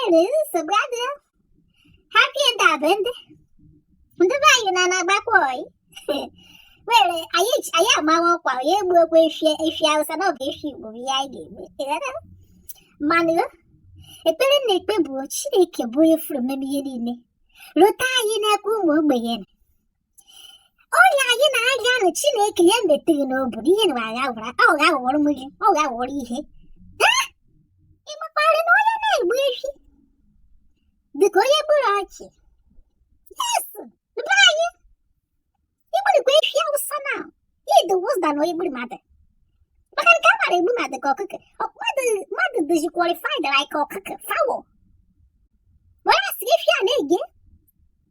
enwere nsogbu adịghị happy ndabende ndị be anyị na na-agbakwa oyi were anyị amawa ọkwa onye egbukwa efi awụsa na ọ bụ efi igbo bụ ihe anyị ga-egbu mana ekpere m na-ekpe bụ chineke bụ onye furu mmemme ihe niile lụta anyị n'aka ụmụ ogbenye ọrịa anyị na-arịa nụ chineke ya meteghị n'obodo ihe na agha gwara ọ ga aghọrọ m gị ọ ga aghọrọ ihe ị makwarị na onye na-egbu efi dịka onye gburu ọchụ yes be anyị igburikwa efi awụsa na ị dị worse than onye gburu mmadụ maka nke a mara egbu mmadụ ka ọkụkọ mmadụ dịzi qualified like ọkụkọ fowl were asị efi a na-ege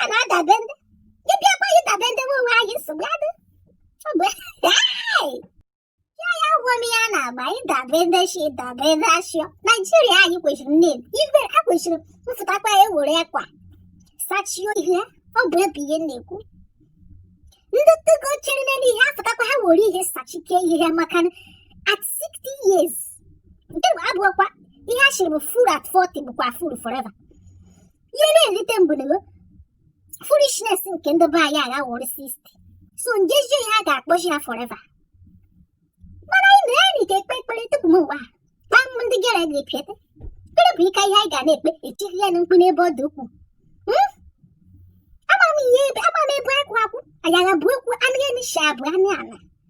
a na-adabende gị bịakwa gị dabende nwe onwe anyị nsogbu adị ọ bụ ya ya gwọ m ya na-agba ịdabende shi dabende ashịọ naijiria anyị kwesịrị nne igwe a kwesịrị mfụtakwa ya ewere akwa sachie ihu ọ bụ ebe ihe na-ekwu ndị togo chere n'elu ihe afụtakwa ha were ihe sachike ihu ha maka at 60 years nke bụ abụọkwa ihe a sịrị bụ fool at 40 bụkwa fool forever ihe na-elite m bụ na foolishness nke ndị be anyị agha wụrụ 60 so njezie ihe a ga-akpọchi ya forever mana anyị na anyị ka ekpe ekpere tupu m ụwa kpam ndị gere gị pịete ekpere bụ ike ihe anyị ga na-ekpe etighi ya na mkpu n'ebe ọ dị ukwuu hmm? ama m ihe ebe ama m ebe akwụ akwụ anyị agha bụ ekwu anụ ya n'isi abụ anụ ala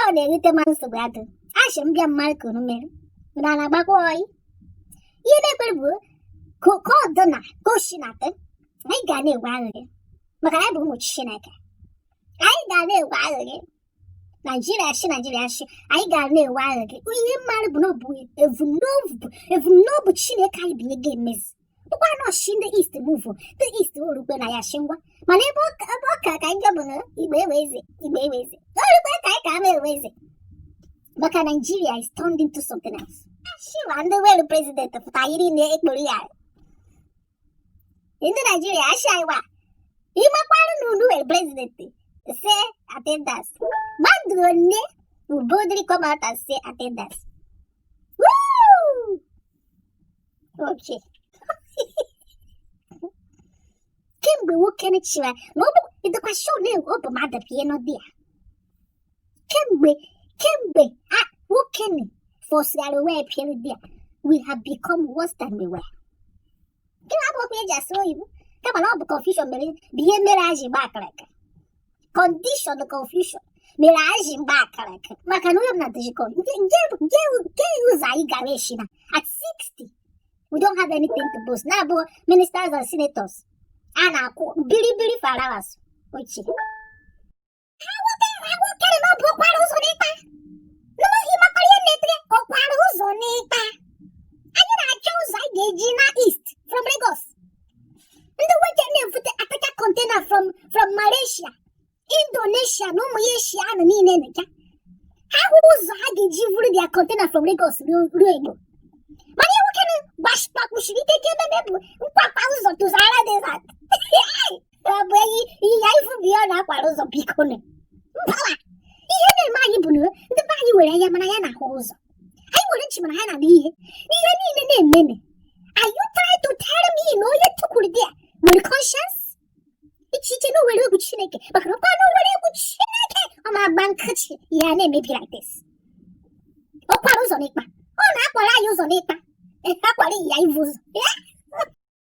ọ na-erite m mana nsogbu adụ asị m bịa mara ka unu mere na na-agbakwa oyi ihe na-ekwere bụ ka ka ọ dị na ka o si na dị anyị ga na-enwe aṅụrị maka na anyị bụ ụmụ chineke anyị ga na-enwe aṅụrị naijiria shi naijiria shi anyị ga na-enwe aṅụrị ihe m mara bụ na ọ bụ evumnobi evumnobi chineke anyị bụ ihe ga-emezi bụkwara na ọ shị ndị east move ndị east orukwe na ya shị ngwa mana ebe ọ ka ka njọ bụ na igbo enwe eze igbo enwe eze orukwe ka anyị ka ama enwe eze maka naijiria is turned into something else ashịwa ndị nwelu president pụta yiri na ekporo ya ndị naijiria ashị anyị wa ịmakwarụ na unu nwere president say attendance mmadụ one will boldly come out and say attendance okay kemgbe nwoke chịwa na ọ bụ ịdịkwa sure na ọ bụ mmadụ bụ ihe nọdị ya kemgbe kemgbe nwoke ni fọsịara onwe ya bịa nọdị ya we have become worse than we were gịnị abụkwa eji asụ oyibo kama na ọ bụ confusion mere bụ ihe mere a ji gba akịrịka kọndishọn confusion mere anyị ji gba akara aka maka na onye m na-adịghị kọ nke ụzọ anyị gara echi na at 60 we don't have anything to boast na-abụghị ministers and senators a na-akwụ biribiri farawas ochie ha nwoke na ọ bụ ọkwara ụzọ n'ịkpa n'ụlọhi makwara ihe na-etere ọkwara ụzọ n'ịkpa anyị na-achọ ụzọ anyị ga-eji naa east from Lagos ndị nwoke na-ebute ataka kọntena from from Malaysia Indonesia na ụmụ ya Eshia ahụ niile ka ha hụrụ ụzọ ha ga-eji vuru dia kọntena from Lagos ruo Igbo mana ihe nwoke gbakpuchiri ike ike ememe bụ nkwakwa ụzọ to Sahara desert ọ bụ enyi ịnyịnya ivu bụ ihe ọ na-akwara ụzọ biko mbawa ihe na-eme anyị bụ na ndị be anyị were anya mana ha anaghị ahụ ụzọ anyị nwere nchị mana ha anaghị anụ ihe n'ihe niile na-ememe are you trying to tell me na onye tukwuru dia nwere conscience i che i che na o nwere egwu chineke maka na ọkwa na o nwere egwu chineke ọ ma agba nkịtị ihe a na-emebi like this ọkwara ụzọ n'ịkpa ọ na-akwara anyị ụzọ n'ịkpa akwara ịnyịnya ivu ụzọ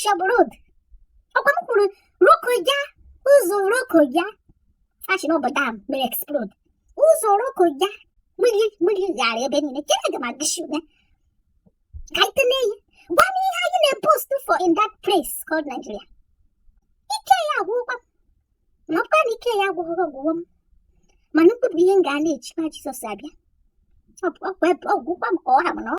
shabụ road ọkwa m kwuru Lokoja ụzọ Lokoja a sị na ọ bụ dam mere explode ụzọ Lokoja mmiri mmiri ghara ebe niile ke aga m agụsị ya ka anyị tene ya gwa m ihe anyị na-eboast for in that place called Nigeria ike ya agwụkwa m na ọkwa na ike ya agwụghị ọ gwụgo m mana mkpụrụ ihe m ga na-echekwa Jizọs abịa ọ gwụkwa m ka ọ ha m na ọ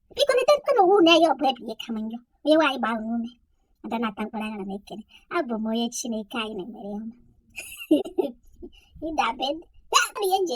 biko neterukwa nụ onwe unu anya ọ bụ ebe ihe kama njọ onyenwe anyị gbaa unu ume ada na-ata mkpụrụ anya na ekene abụ m onye chineke anyị na-emere ihe ọma ịdabe ndị ya nje